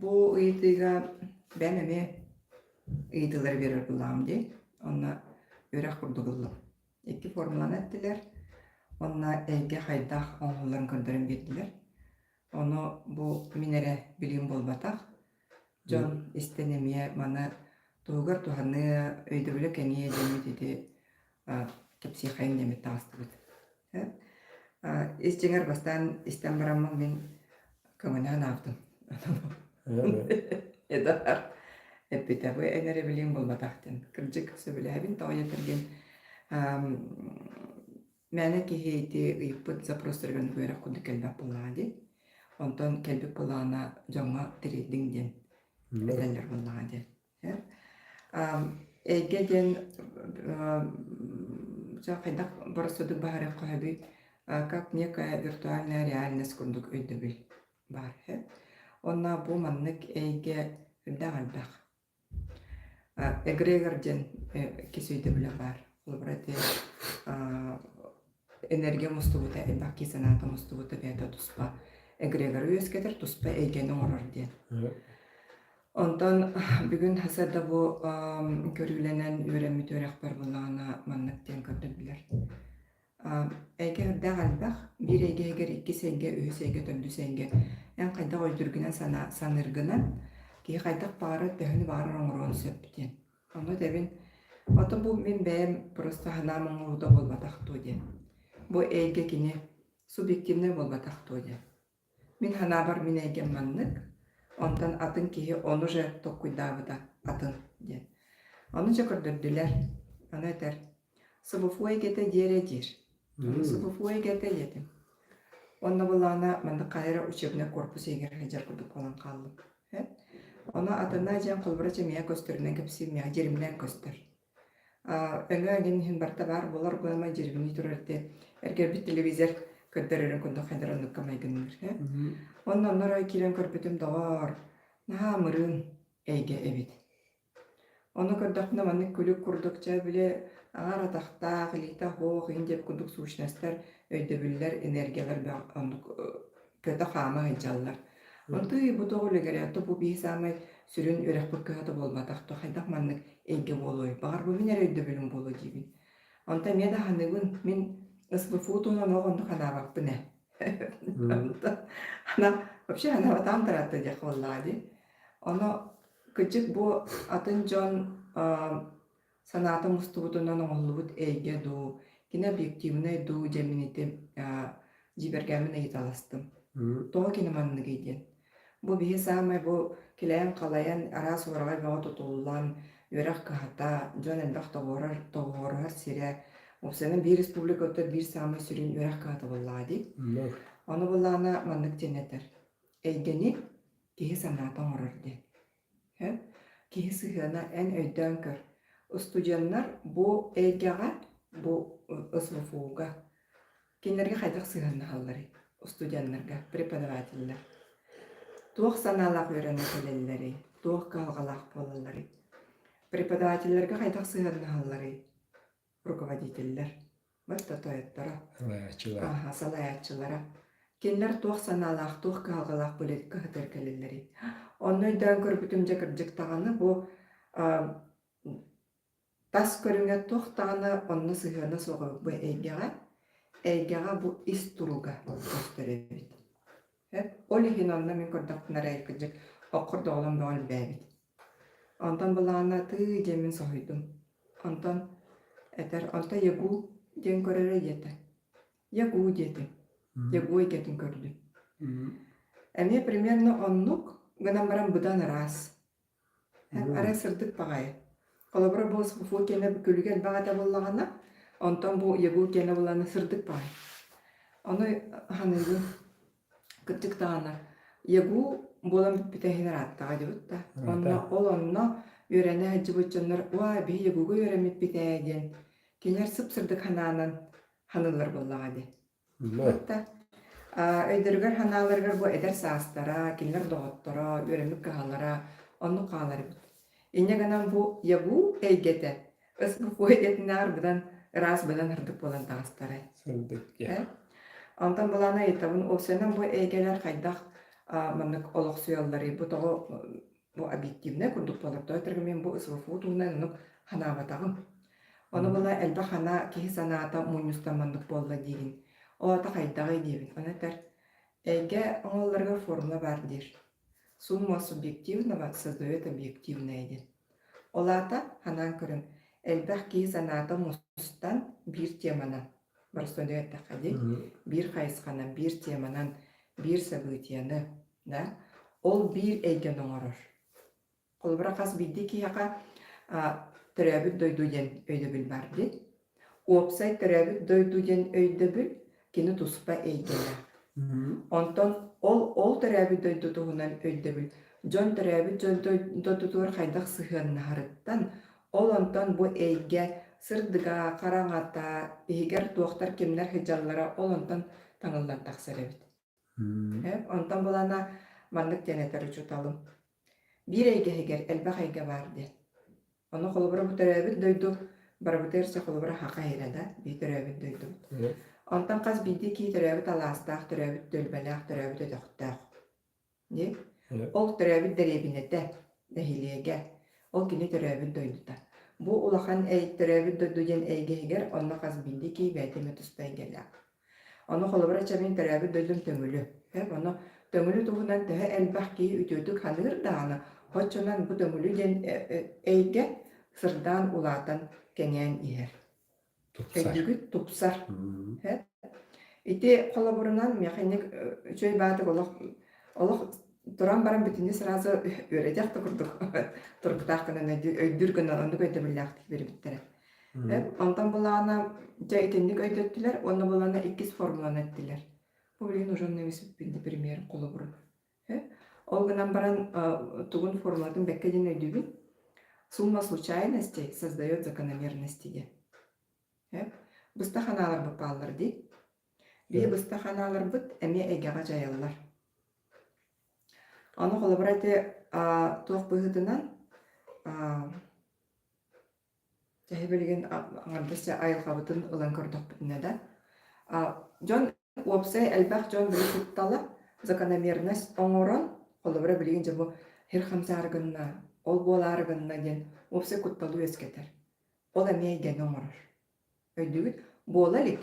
Бу ыйытыыга бэйэм эмиэ ыйытыылары биэрэр быһылааҕым дии. Онно үөрэх курдук ыллым. Икки формуланы эттилэр. Онно эйгэ хайдах оҥоһулларын көрдөрөн биэрдилэр. Ону бу мин эрэ билиим буолбатах. Дьон истэн эмиэ маны туһугар туһаныы, өйдөбүлэ кэҥиэ диэммит ити а, кэпсиэххэйим диэммит таҕыстыбыт. Ис дьиҥэр бастаан истэн бараммын мин көҥүлээн аахтым. Эдуард эппитэ бу эн эрэ билиэҥ буолбатахтын. Кырдьык сөбүлээбин тоҕойо этэргин мээнэ киһи ити ыйыппыт запростарыгын үөрэх курдук кэлбэт буоллаҕа дии. Онтон кэлбит былаана дьоҥҥо тириэрдиҥ диэн этэллэр буоллаҕа дии. Эйгэ диэн хайдах боростодук баһарыах хоһуй как некая виртуальная реальность курдук өйдөбүл баар үһү. Онно бу маннык эйгэ элбэх элбэх. Эгрегор диэн кис өйдөбүлэ баар. Ол бары энергия мустубута, элбэх киһи санаата мустубута бэйэтэ туспа эгрегоры үөскэтэр, туспа эйгэни оҥорор диэн. Онтон бүгүн ХСД бу көрүүлэнэн үөрэммит үөрэхпэр буллаҕына маннык диэн көрдөрдүлэр. Эйгэ үрдээх элбэх. Биир эйгэ иһигэр иккис эйгэ, үһүс эйгэ, төрдүс эйгэ. Эн хайдах өйдүргүнэн санааргынан киһи хайдах баары, төһөнү баарар оҥоруон сөп диэн. Ханна этэбин? Потом бу мин бэйэм просто санаам оҥоруута буолбатах дуо диэн. Бу эйгэ кини субъективнай буолбатах дуо диэн. Мин санаабар мин эйгэм маннык, онтон атын киһи ону же толкуйдаабыта атын диэн. Ону дьэ көрдөрдүлэр. Аны этэр Собофуой кэтэ диэрэ диир. Собофуой кэтэ диэтим. Онно былаана манна хайа эрэ учебнай корпус иһигэр сылдьар курдук буолан хааллым. Ону атына дьэн холобура чэмиэ көстөрүнэн кэпсииммиэх дьиримнээн көстөр. Өҥө эҥин иһин барта баар буолар буолама дьиримнии турар те эргэрбит телевизор көрдөрөрүн курдук хайдар оннукка майгынныыр. Онно оннор киирэн көрбүтүм доҕоор, наһаа мырын эйгэ эбит. Ону көрдөхпүнэ маннык күлүк курдук чэ били аҥар атахтаах, илиитэ оһох иһин диэбит курдук сущностар өйдөбүллэр, энергиялар бөх оннук э, көтө-хаама сылдьаллар. Онтуй бу тоҕу легерятто бу бии саамай сүрүн үрэхпит кыһата буолбатах то хайдах маннык эйгэ буолуой баҕарбыбын эрэ өйдөбүлүм буолуо диибин онто эмиэ да аһыныгын мин СБФУ туһунан ол оннук анаабаппын ээ Анап вообще анаабатаам таратта диэх буоллаҕа дии оно Кычык бу атын дьон санаата мустубутунан оҥоһуллубут эйгэ дуу, кинообъективнай дуу дьэммините дьиибэргээммин ыйыталастым. Тоҕо кино манныгый диэн. Бу биһи саамай бу килэйэн-халайан, араас уораҕай бөҕө тутуллан, үөрэх кыһата, дьон элбэх тоҕуорар, тоҕуоруһар сирэ, Опсаны биир республика оттор биир саамай сүрүн үөрэх кыһата буоллаҕа дии. Ону буллаҕына маннык диэн этэр. Эйгэни Киһи санаата оҥорор диэн. Эн киһи сыһыана эн өйдөөн көр. Устудьуоннар бу эйгэҕэ, бу СВФУ-га кинилэргэ хайдах сыһыаннаһалларый? Устудьуоннарга, преподавателлэр. Туох санаалаах үөрэнэ кэлэллэрий? Туох кыһалҕалаах буолалларый? Преподавателлэргэ хайдах сыһыаннаһалларый? руководителлэр бортотоеттара ааһа салайааччылара кинилэр туох санаалаах туох кыһалҕалаах былиитикэ ыһытар кэлэллэрий онно өйдөөн көрбүтүм дьэ кырдьык даҕаны бу тас көрүҥэ туох даҕаны онно сыһыана суоҕа бу эйгэҕэ эйгэҕэ бу ис туруга көстөр эбит Эт, ол иһин онно мин көрдөхпүнэ эрэ кырдьык оккор да оҕолорум бөҕө элбээбит. Онтон былаана атыы диэн мин соһуйдум. Онтон этэр, онто ягуу диэн көрөрө диэтэ. Ягуу диэтим. Ягуу эйгэтин көрдүм. Эмиэ примерно оннук гынан баран быдан ыраас. Арай сырдык баҕайы. Холобура, бу фу киэнэ күлүгэ элбэх этэ буоллаҕына, онтон бу ягу киэнэ буоллаҕына сырдык баҕайы. Ону ханыыбын кырдьык даҕаны ягу буолан бүппүтэ иһин ырааттаҕа дьыбыт да. Уонна ол онно үөрэнэ сылдьыбыт дьоннор «Уа, биһи ягуга үөрэммиппит ээ» диэн кинилэр сып-сырдык санаанан ханыыллар буоллаҕа дии. Хата, а, өйдөрүгэр-санааларыгар бу эдэр саастара, кинилэр доҕотторо, үөрэммит кыһаллара оннук хаалар эбит. Инньэ гынан бу ЯГУ эйгэтэ СГКУ эйгэтинээҕэр быдан ыраас быдан сырдык буолан таҕыстарай. Сырдыкка. Э? Онтон былаана ыйытабын, ол сэнэн бу эйгэлэр хайдах а, маннык олохсуйалларый, бу тоҕо Ну, объективнай курдук туолартоой тыргыммын бу СВФУ туһунан оннук ханаабатаҕым. Ону була элбэх ана киһи санаата мунньустамманнык буолла диигин. Оото хайдаҕый диэбин. Ону этэр эйгэ оҥоллорго формула баар диир. Сумма субъективного создает объективное диэн. Ол аата ханаан көрөн элбэх киһи санаата мустан биир теманан боростуойда эттэххэ дии биир хайысханан биир теманан биир событияны Да? Ол биир эйгэни оҥорор. Холобура, хас биирдии киһиэхэ төрөөбүт дойду диэн өйдөбүл бар дии. Уопсай төрөөбүт дойду диэн өйдөбүл кини туспа эйгэнэ. Онтон ол ол төрөөбүт дойду туһунан өйдөбүл дьон төрөөбүт дьон дойдутугар хайдах сыһыаннаһарыттан ол онтон бу эйгэ сырдыга, хараҥата, иһигэр туохтар кимнэр сыдьаллара ол онтон таҥыллан тахсар эбит. Онтон булана маннык диэн этэр учууталым, биир эйгэһигэр элбэх эйгэ баар диэн. Ону холобура бу төрөөбүт дойду барыбытыгар сөп холобура хаха иһирэ да бии төрөөбүт дойдубут. Онтон хас биирдии киһи төрөөбүт алаастаах, төрөөбүт түөлбэлээх, төрөөбүт өтөхтөөх. Дии. Ол төрөөбүт дэриэбинэтэ, нэһилиэгэ, ол кини төрөөбүт дойдута. Бу улахан эй төрөөбүт дойду диэн эйгэһигэр онно хас биирдии киһи бэйэтэ эмэ туспа эйгэлээх. Ону холобура чамин төрөөбүт дойдум төҥүлү. Эп ону төҥүлү туһунан төһө элбэх киһи үтүөтүк ханыыр даана, хоччунан бу төҥүлү диэн эйгэ сырдаан улаатан кэҥээн иһэр. Тупсар. Өйдүгүт тупсар. Ити холобурунан механик үчөй баатык олох олох туран баран бүтүнү сразу үөрэтэх да курдук турбутаах гынан өйдүүр гынан оннук өйдөбүллээхтик бербиттэрэ. Онтон былаана дьэ итинник өйдөттүлэр уонна былаана иккис формуланы эттилэр. Бу билигин уже немецпин пример холобурун. Ол гынан баран тугун формулатын бэккэ дин өйдүбүн. Сумма случайностей создает закономерности Быста ханаалар бапааллар ди. Бии быста ханаалар быт эми эйгэҕэ жайылылар. Оны холобура эти туох быһытынан Төһө билигин аҥардас айылҕабытын ылан көрдөхпүтүнэ да, дьон уопсай элбэх дьон били куттала закономерность оҥорон, холобура билигин дьэ бу сир хамсаары гынна, ол буолаары гынна диэн уопсай кутталы үөскэтэр. Ол эмиэ эйгэни оҥорор. Өйдүүгүт, буола илик.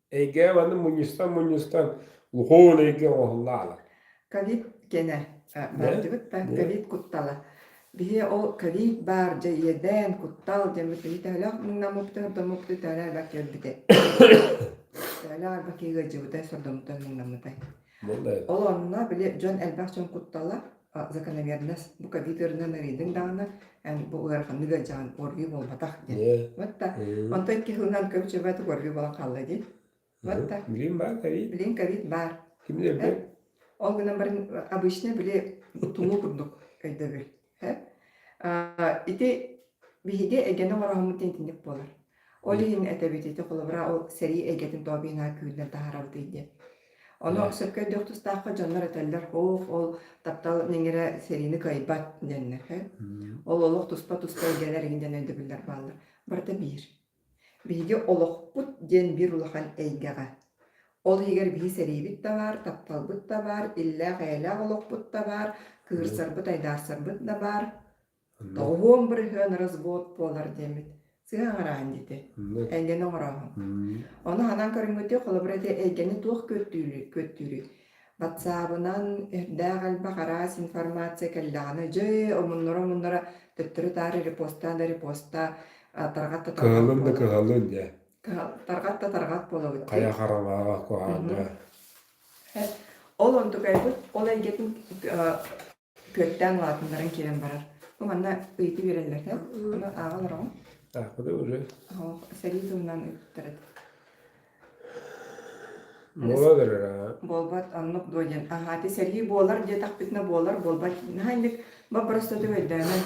Эйгээл аны мунньустан-мунньустан лухуун эйгэ оҥоһуллаалар. Ковид кэнэ бардыбыт да ковид куттала. Биһиэ ол ковид баар дьэ иэдээн куттал дэммит төһөлөөх муҥнаммыттар домукты төлө альба келбите. Төлө альба кигырдьыбыта сордомуттан муҥнаммыта. Ол онно били дьон элбэх дьон куттала закономерность бу ковид ыарынан арыйдыҥ даҕаны эн бу ыараханнык ыалдьаҕын уорвий буолбатах диэн мытта онтон икки сылынан көбүчөбөт уорвий болон хаалла дии мытта билим баар ковид билин ковид баар кимдэрбэр ол гынан баран обычно били тумуу курдук өйдөбүл ити биһиги эгэни оҥороһоммут диэн итинник буолар Ол иһин этэбит ити холобура ол сэрии эйгэтин тообинаан күүрдэн таһаарабыт ити. Ону Да. сөпкө өйдүөх тустаахха дьоннор этэллэр, «Оох, ол таптал ниҥирэ сэриини кыайбат» диэннэр хэ. Мм. Ол олох туспа-туспа эйгэлэр игин диэн өйдөбүллэр бааллар. Барыта биир. Биһиги олохпут диэн биир улахан эйгэҕэ. Ол иһигэр биһи сэриибит да баар, тапталбыт да баар, иллээх-эйэлээх олохпут да баар, кыырсарбыт, айдаарсарбыт да баар. Доҕуһуом бырыһыан развод буолар диэммит сыһа оҥорооһун диити эйгэни оҥорооһун. Ону ханан көрүҥҥүтү холобур эти эйгэни туох күөттүүрүй күөттүүрүй ватсаабынан эрдээх элбэх араас информация кэллэҕинэ дьэ омуннара омуннара төттөрү таары репостаан да репостаа тарҕат да кыһалын да кыһалын дьэ тарҕат да тарҕат буолабыт хайа хараҥаҕа куһаана ол онтукайбыт ол эйгэтин күөртээн улаатыннаран киирэн барар. Бу манна ыйытыы биэрэллэртэн ону ааҕа олороҕун. Аахпыта үрү. Оһох сэрии тылынан ыыттарыт. Буола көрөрө. Буолбат оннук дуо диэн. Аһаати сэрии буолар диэтахпитинэ буолар буолбат. Наһаа инник боппоростоту өйдөөмөн.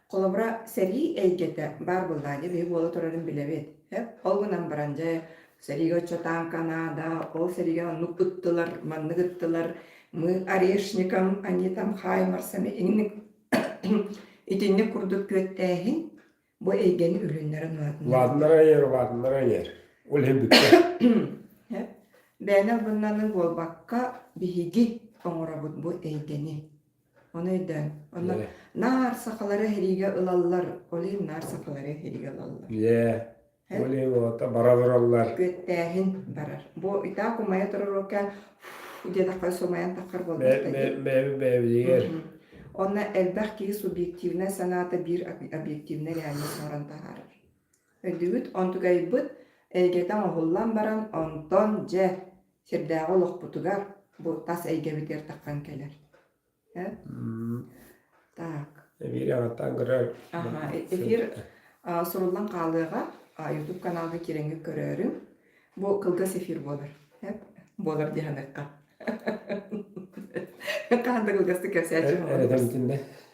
Холобура, сэрии эйгэтэ баар буоллаҕа дии, биһи буола турарын билэбит. Эп, ол гынан баран дьэ, сэриигэ оччотаан Канада, ол сэриигэ оннук ыттылар, маннык ыттылар, мы орешникам, они там хаймарсами, инник итинник курдук күөттээһин бу эйгэни үлүннэрэн уратыннар. Лаатыннар айар, лаатыннар айар. Ол иһин бүттэ. Эп, бэйэни албыннаны буолбакка, биһиги оҥоробут бу эйгэни. Оны өйдөөн. Онно наар сахалары эһириигэ ылаллар. Олин наар сахалары эһириигэ ылаллар. Е, Ол вот бара тураллар. күөттээһин барар. Бу итак умайа турар океан диэтэххэ сумайан таххар буолбатта дии. Бэби бэбигэр. Онно элбэх киһи субъективнай санаата биир объективнай реальность оҥорон таһаарар. Өйдүгүт онтугайбыт эйгэтэ оҥоһуллан баран онтон дьэ сирдээҕи олохпутугар бу тас эйгэбитигэр таххан кэлэр. Так. Эбиир аратаан көрөр. Аха, эфир суруллан хаалыаҕа. YouTube каналга кирэҥҥэ көрөөрүҥ. Бу кылгас эфир буолар. Буолар диһаныахха. Хаһан да кылгастык кэпсээччи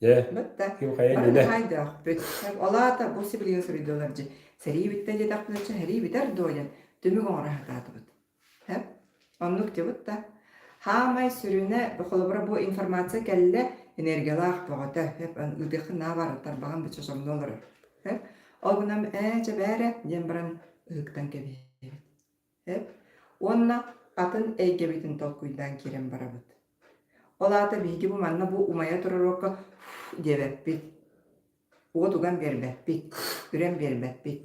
Дьэ, Бытта, ким хайа бары да иннинэ? хайдахпыт. Ол аата бу сибилигин суруйдулар дьэ. Сэрии бүттэ диэтэхпинэ, чэ, сэрии бүтэр дуо диэн түмүк оҥоро сатаатыбыт. Һэ? Оннук дьыбытта. Хаамай сүрүнэ, холобура бу информация кэллэ, энергиялаах бөҕөтө. Һэп, ыытыахха наа бар, тарбаҕын бычча сомно олорор. Һэп? Ол гынан, ээ, чэ бээрэ, диэн баран ыһыктан кэбиһэбит. Эп уонна атын эйгэбитин толкуйдаан киирэн барабыт. Ол аата биһиги бу манна бу умайа турар уокка диэбэппит. Уот уган биэрбэппит, үрэн биэрбэппит.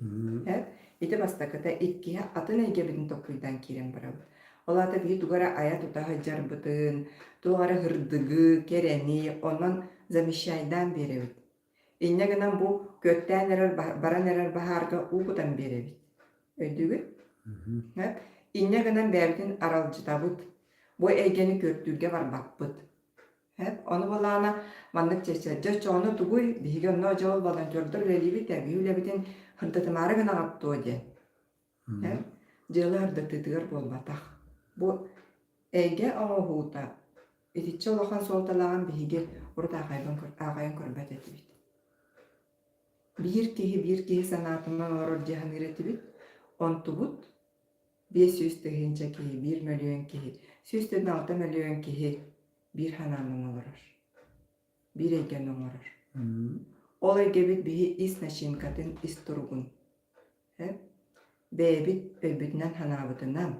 Эп ити бастакыта иккиһэ атын эйгэбитин толкуйдаан киирэн барабыт. Ол аата биһи тугу эрэ айа-тута сылдьарбытын, туох эрэ һырдыгы, кэрэни онон замещайдаан биэрэбит. Инньэ гынан бу күөттээн эрэр, баран эрэр баһаарга уу кутан биэрэбит. Өйдүүгүт? Мгм. Инньэ гынан бэйэбитин аралдьытабыт. Бу эйгэни көрдүүргэ барбаппыт. Ону былаана маннык чэпчэтии оччоҕуна тугуй, биһиги онно дьол волонтердар үлэлиибит, эргиһи үлэбитин хантытымаары гынаҕыт дуо диэн. Мм. Дьыала ардытытыгар буолбатах. Бу эйгэ оҥоһуута итиччэ улахан суолталааҕын биһиги урут аахайбан көр- аахайан көрбөт этибит. Биир киһи биир киһи санаатын оҥорор дии саныыр этибит. Онтубут биэс сүүс тыһыынча киһи, биир мөлүйүөн киһи, сүүс төрт алта мөлүйүөн киһи биир санааны оҥолорор, биир эйгэни оҥорор. Мм. Ол эйгэбит биһи ис начинкатын, ис туругун Эн бэйэбит өйбүтүнэн санаабытынан,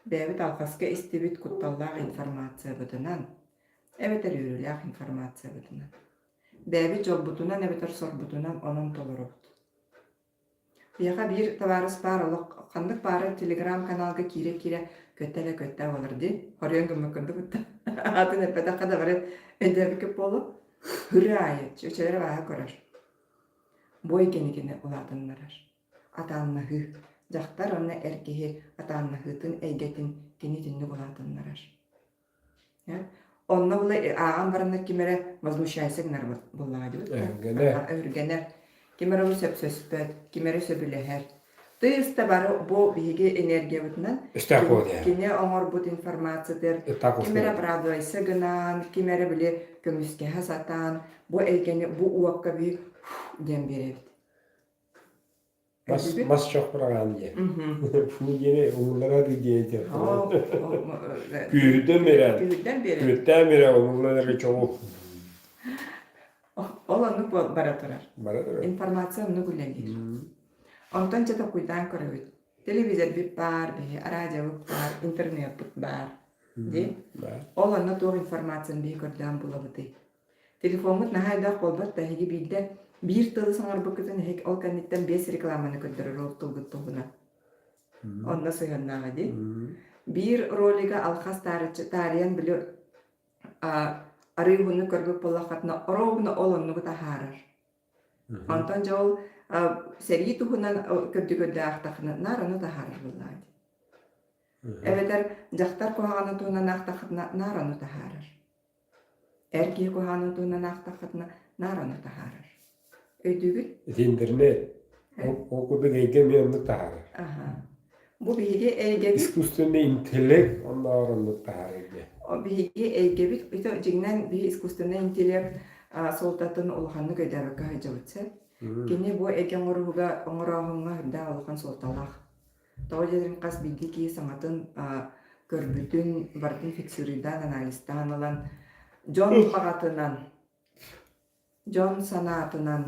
бэйэбит алҕаска истибит кутталлаах информациябытынан, эбэтэр үөрүүлээх информациябытынан, бэйэбит дьолбутунан эбэтэр сорбутунан онон толоробут. Биһиэхэ биир табаарыс баар олох ханнык баарын телеграм-каналга киирэ-киирэ көттө эрэ көттө буолар дии. Хоруйан гыммыт курдук ытта. Аатын эппэтэххэ да бары өйдөөбүккүт буолуо. Үрэ аайы, чөчөлөрө бааһа көрөр. бу экиникини улаатыннарар. Атааннаһыы. Дьахтар уонна эр киһи атааннаһыытын эйгэтин кини итинник улаатыннарар. Онно була ааҕан бараннар ким эрэ возмущайся гынар буоллаҕа дии. Өргөнөр. Ким эрэ сөпсөспөт, ким эрэ сөбүлэһэр. Тыйыс да бары бу биһиги энергиябытынан кини оҥорбут информациятыгар ким эрэ оправдывайса гынаан, ким эрэ били көмүскэһэ сатаан, бу эйгэни бу уокка би диэн биэрэбит. Бас бас жоқ бырагаан диэн. Фу диэни умуллара дый диэдэр. Күүрдэн берен. Күүрдэн берен. Күүртään берен умуллары чоҕу. Ол оннук бара турар. Бара турар. Информация оннук үлэлиир. Онтон дьэ толкуйдаан көрөбүт. Телевизорбут баар, биһи араадьабыт баар, интернетпыт баар дии. Ол онно туох информацияны биһи көрдөөн булабытый? Телефоммут наһаа элбэх буолбат да эһиги биирдэ биир тылы соҥорбуккутун эһиги ол кэнниттэн биэс рекламаны көрдөрөр ол тылгыт туһунан. Онно сыһыаннааҕа дии. Биир ролига алхас таарыччы таарыйан били арыыһыны көрбүт буоллаххытына орообуна ол оннугут аһаарар. Мхм. Онтон дьэ ол, а, сэрии туһунан о көрдүгүрдээх-тахынаннар ону таһаарарбыллаат. Мгм. Эбэтэр дьахтар куһаҕанын туһунан аахтаххытына, наар ону таһаарар. Эр киһи куһаҕанын туһунан аахтаххытына, наар ону таһаарар. Өйдүүгүн? Итиннэринээт, ол Һэ. ол курдук эйгэм эмиэ оннук таһаарар. Аһа. Бу биһиги эйгэбит искусственный интеллект оннооҕоруммут таһаарыыга. Биһиги эйгэбит ито дьиҥинэн биһи искусственный интеллект суолтатын улаханнык өйдөөбөккө сылдьабыт сөп. Кини бу эйгэ оҥоруһуга оҥорооһуҥҥа үрдээх улахан суолталаах. Тоҕо диэтэр хас биирдии киһи саҥатын көрбүтүн, барытын фиксируйдаан, анализтаан ылан, дьон хаҕатынан Дьон санаатынан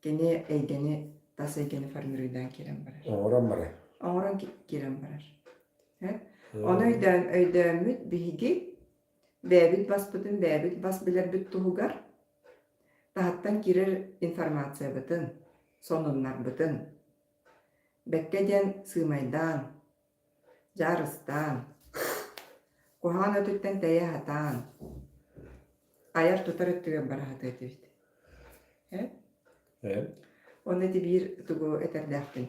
кини эйгэни тас эйгэни формируйдан киирэн барар. Оҥорон барар. Оҥорон киирэн барар. Ону өйдөөн өйдөөммүт биһиги бэйэбит баспытын бэйэбит бас билэрбит туһугар таһыттан киирэр информациябытын, сонуннарбытын бэккэ диэн сыымайдаан, Дьаарыстаан, куһаҕан өтүттэн тэйэ сатаан, айар-тутар өттүгэр бара сатыа этибит. Э? Э? Онно ити биир тугу этэрдээхпин.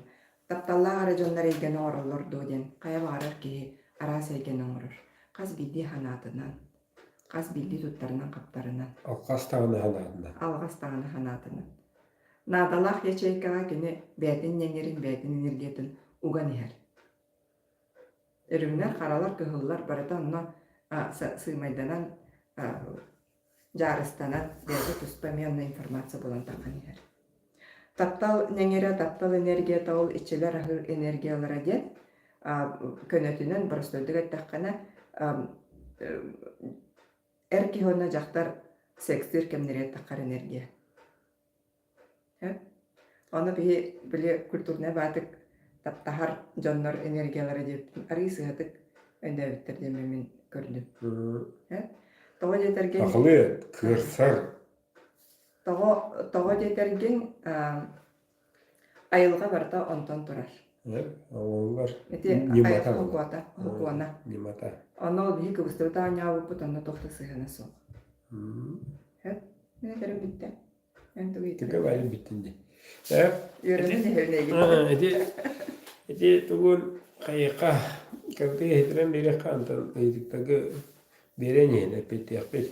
Тапталлаах эрэ дьоннор эйгэни оҥороллор дуо диэн хайа баҕарар киһи араас эйгэни оҥорор. Хас биирдии санаатынан, хас биирдии туттарынан-хаптарынан, Алҕас даҕаны санаатынан. алҕас даҕаны санаатынан. Наадалаах ячейкаҕа кини бэйэтин ньэҥэрин, бэйэтин энергиятын уган иһэр. Үрүҥнэр, харалар, кыһыллар барыта онно сыымайданан, дьаарыстанан, бэйэтэ туспа эмиэ онно информация булан тахсан иһэр. Таптал ньэҥэрэ, таптал энергията ол иччилэр аһы энергиялара диэн көнөтүнэн боростуойдук эттэххинэ эр киһи уонна дьахтар секстиир кэмнэри эттэххэ энергия. Ону киһи били культурнай баатык таптаһар дьоннор энергиялара диэбитим арыый сыһатык өнөөбүттэр диэн мин көрдүм. Тоҕо диэтэргин Сахалыы кыырсар тоҕо тоҕо диэтэргин Айылҕа барыта онтон турар. Оллар ити ньымата холкуота, холкуона. Ньымата. Онно ол биһи кыбыстыбыт оонньообуппут онно тохто сыһыана суох. Эт, мин этэрим бүттэ. Эн тугу итирэ? Түгэ байыл бүттүн ди. Э, Үөрөнүн эһэлинэйгит. Ити ити тугун хайыха кабытыга хитирен береха антан ыйдыктагы берен иһин эппиттиэхпит.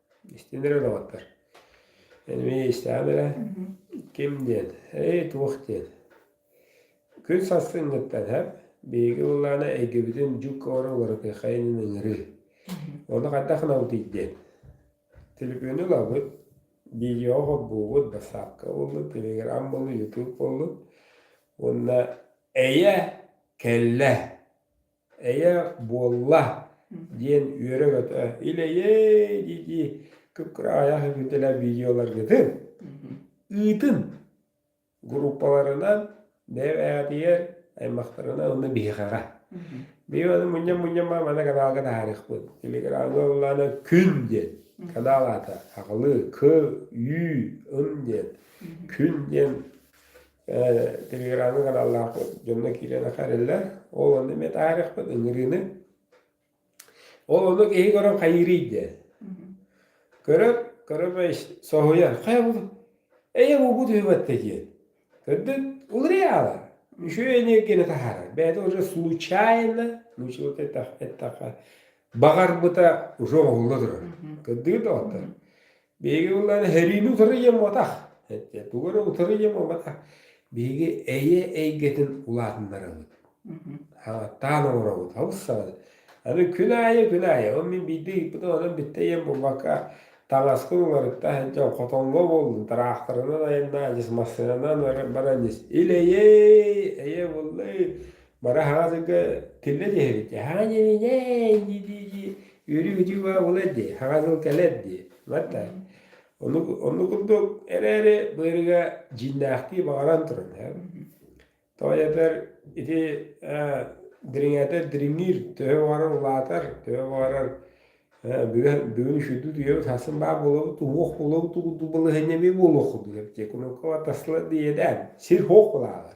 Истин эрэ олоҕуттар. Эн мин истэҕим эрэ, ким диэн, ээй туох диэн. Күн сарсыҥҥыттан һэм биһиги улаана эйгэбитин дьук-ора уларытыаххайын ыҥырыы. Ону хайдах гынабытый диэн. Төлөпүөнү ылабыт, видеоҕа холбуубут, бассаапка буоллут, телеграм буоллут, ютуб буоллут. Уонна эйэ, кэллэ. Эйэ буолла диэн үөрэ-көтө илэйэй дии-дии кып-кыраайах үтүтэлэ видеоларгытын ыытын группаларынан бэйэбээҕитигэр аймахтарынан уонна биһиэхэҕэ. Бии аны мунньам-мунньама маны каналга таһаарыахпын. Телеграмҥа ыллаана күн диэн канал аата хахылы к ю ын диэн күн диэн телеграммын каналлаахпыт дьонно киирэн харыллар ол онно мен таарыахпыт ыҥырыыны ол ону киһи көрөн хайырый дэ көрөр көрөмөй соһуйар хайа бу эйэ буубу түһүбэттэ диэн көрдүн улырыйаалар мүшөө энергияны таһаарар бэйэтэ уже случайно научил эттэххэ баҕарбыта уже оҕулла турар көрдүгүт доҕоттор Биһиги былаан эһэриини утарыйыам уотах. Тугу эрэ утарыйыам уотах. Биһиги эйэ эйгэтин улаатыннарабыт. Ааттаан оҥоробут. Олус саҕана. Аны күн аайы, күн аайы. Ол мин биирдии ыыппытым, онон бүттэ ийэм булбакка, таҥаскын уларытта, дьон хотоҥҥо буоллун, тыраахтарынан айаннаан, ис массыынанан баран ис, ил-эйэй, эйэ буллай, Бара хаазырга тиллэ түһэбит. Хаан дии дии үөрүү-күтүү баа булар дии, хаҥа сыл кэлэр дии. Манна ону ону курдук эрээри быарыга дьиҥнээхтии баҕаран туран тоойотор ити дириҥээтэр дириҥиир төһө баҕарар улаатар, төһө баҕарар бүгүн бүгүн үшүрдүү үйэбит хасан баа буолабыт уһуох буолабыт былаһынньа эмиэ буолуох курдук эбитэ. Кунукка атаслар диэдээн сир-хуох булаалар.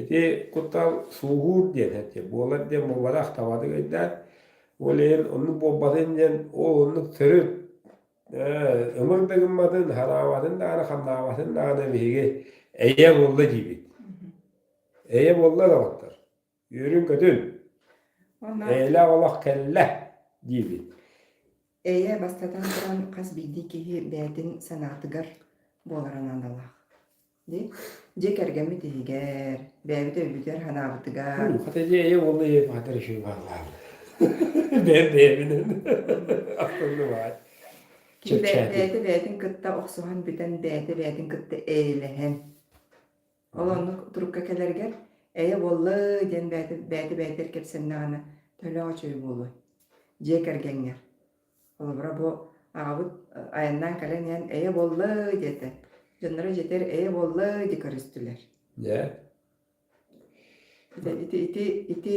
Ити куттал сууһуур диэн этэ. Буолар диэн буолбатах табатын өйдөөн, ол иһин оннук буолбатын диэн ол оннук төрүт ымыр да гымматын, хараабатын даҕаны, хамнаабатын даҕаны биһиги эйэ буолла диибит. Эйэ буолла да оттор. Үөрүн-көтүн. Онно Эйэлээх олох кэллэ, диибин. Эйэ, бастатан туран, хас биирдии киһи бэйэтин санаатыгар буолара наадалаах. Дии. Дьиэ кэргэммит иһигэр, бэйэбит өйбүтүгэр, санаабытыгар. Ну, хата дьиэ эйэ уолла ийэ маатар иши баалаан. Бэр бэйэбинэн. Ахтылы баай. Ким бэйэтэ бэйэтин кытта охсуһан бүтэн, бэйэтэ бэйэтин кытта эйэлэһэн. Ол оннук турукка кэлэргэр «Эйэ буолла» диэн бэйэтэ бэйэтэ бэйэтигэр кэпсэннэҕинэ төлөөх үчүгэй буолуо. Дьиэ кэргэҥҥэр. Холобура бу аҕабыт айаннаан кэлэн иһэн «Эйэ буолла» диэтэ. Дьонноро дьиэтигэр «Эйэ буолла» диэ көрүстүлэр. Дьэ. Ити ити ити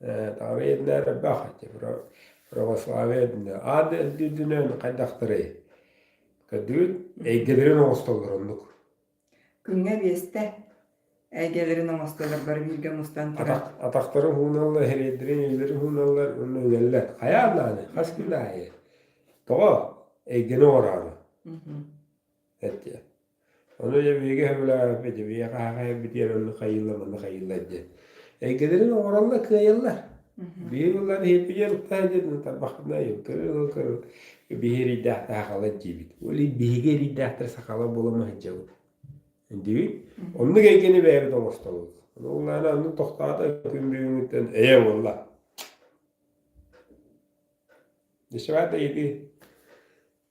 Тавиеннар бах ити православие дünө аан дүйдүнөн хайдахтарый көрдүгүн эйгэлэрин оҥостоллор оннук күҥҥэ биэстэ эйгэлэрин оҥостоллор бары бииргэ мустан турар атахтары ууналлар хириэддэрин илэрин ууналлар уонна үҥэллэр хайаан ааны хас күн аайы тоҕо эйгэни оҥороору Эттэ. Ону дьэ биһиги сөбүлээбэппит, биһиги хаһаҕай битиэр ону хайыылла манна хайыылла диэн. Эйгэлэрин оҥороллор, кыайаллар. Биир ыллаан иһиппитигэр ылтаа диэн тарбахпына айым кырын кырын биһи эрийдээх сахалар диибит. Ол биһиги эрийдээхтэр сахалар буола ма сылдьабыт. Диибит. Оннук эйгэни бэйэбит оҥостобут. Ыллаана ону тохтоото күн бүгүнүттэн эйэ буолла. Дышевата иди.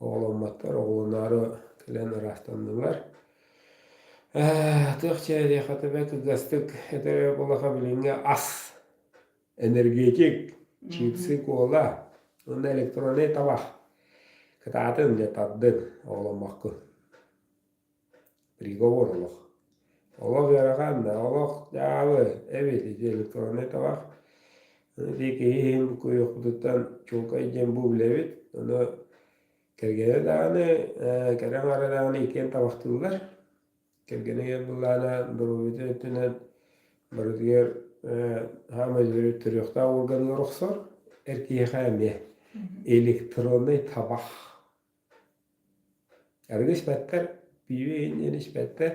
Оҕоломмоттор, оҕолоноору кэлэн ыраастаннылар. Атыах чээдиэ хатыбай кылгастык этэр эрэ буоллаха билиҥҥи ас, энергетик, чипсы, кола уонна электроннай табах кытаатын дьэ тардыҥ оҕоломмоккун. приговор олох олох ыарахааннаах олох таабы эбит ити электроннай табах ити киһи иһин куйахпытыттан чуҥкай диэн бу билэбит ону кэргэнэ даҕаны кэрэ аҥаара даҕаны иккиэн табахтыыллар кэргэнигэр былаана доруобуйатын өттүнэн барытыгар хаамай төрүөхтээх уорганыгар охсор эр киһиэхэ эмиэ электроннай табах Арыгы испэттэр, пиви иһин испэттэр,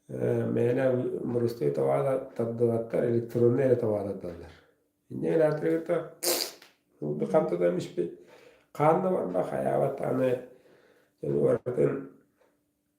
мээнэ мурустуй товара тардыбаттар, электроннай эрэ товара тардаллар. Инньэ гынан атырыыта курдук ханта да эмиспит хаан да барбах, хайаабат аны дьон барытын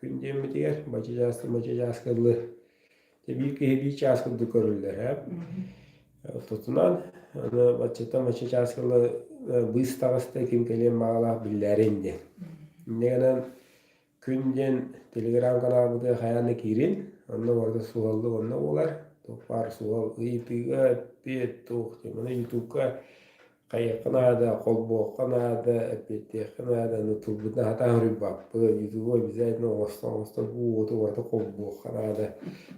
Күн диэммитигэр бачыдьаас бачыдьааска дылы биир киһи биир чаас курдук көрүллэрэ. Оттутунан аны баччата мачча чаас кылы быыстаҕыста ким кэлиэн баҕалаах биллээрин диэн. Иннигэнэн күн диэн телеграм-каналбытыгар хайаан да киирин, онно барыта суһаллык онно буолар. Тук баар суһал ыйытыыга эппиэт туох диэн, ютубка хайыахха наада, холбуохха наада, эппиэтиэххэ наада, аны тылбыт наһата аһарыйбаппыт, ютубу обязательно оҥостон-оҥостон уоту уоту холбуохха наада,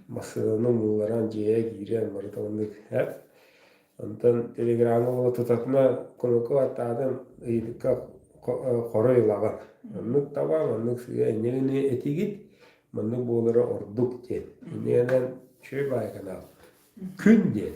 массыынаны умулларан, дьиэҕэ киирэн барыталыннык һэр. Онтон телеграмҥа уола тутатына кулуку аттаатын ыйытыкка хоруй ылаҕын. Оннук табаҥ, оннук сыа энньэгини этигит, маннык буолара ордук диэн. Иннигэнэн үчүгэй баай канал. Күн диэн.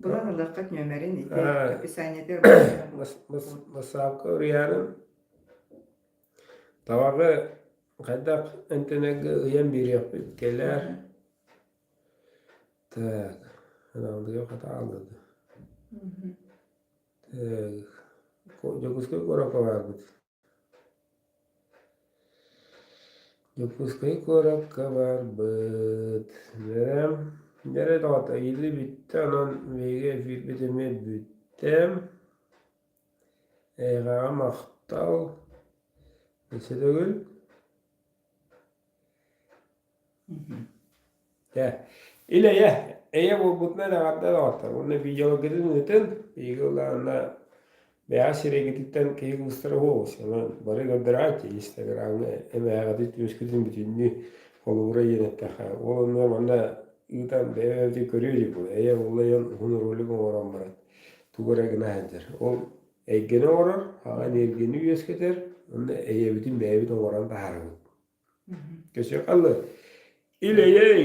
Булан ылыаххыт нүөмэрин ити Э, описаниетыгар бачча мас- мас- массаалка уруйаарын табаҕы хайдах интенеге ыйан биэриэхпит кэлээр так аналыга хата алгыды так Дьокуускай куоракка барбыт Дьокуускай куоракка барбыт. Дьэ, доҕото иилли бүттэ, онон биһиги эфирбит эмиэ бүттэ. Эйиэхэҕэ махтал. Өссө төгүл. Дьэ, ил-эйэ, эйэ буолбутун эдаҕардан оҥортор уонна видеологгытын ыытын, биһиги ыллаанна бэйэҕэ сирэйгититтэн киһи кыбыстара буолуос. Аны бары көрдөрөөччү, инстаграмҥа эмээҕитин түмүскүтүн бүтүннүү холобура иэн эттэххэ. Ол онно манна ыытан бэйэбитин көрүө дии бу. Эйэ уллайан уһун ролик оҥорон баран тугу эрэ гына сылдьар. Ол эйгэни оҥорор, аҕа эниэргийэни үөскэтэр, уонна эйэбитин бэйэбит оҥорон таһаарабыт. Кэсиэхалла илэйэй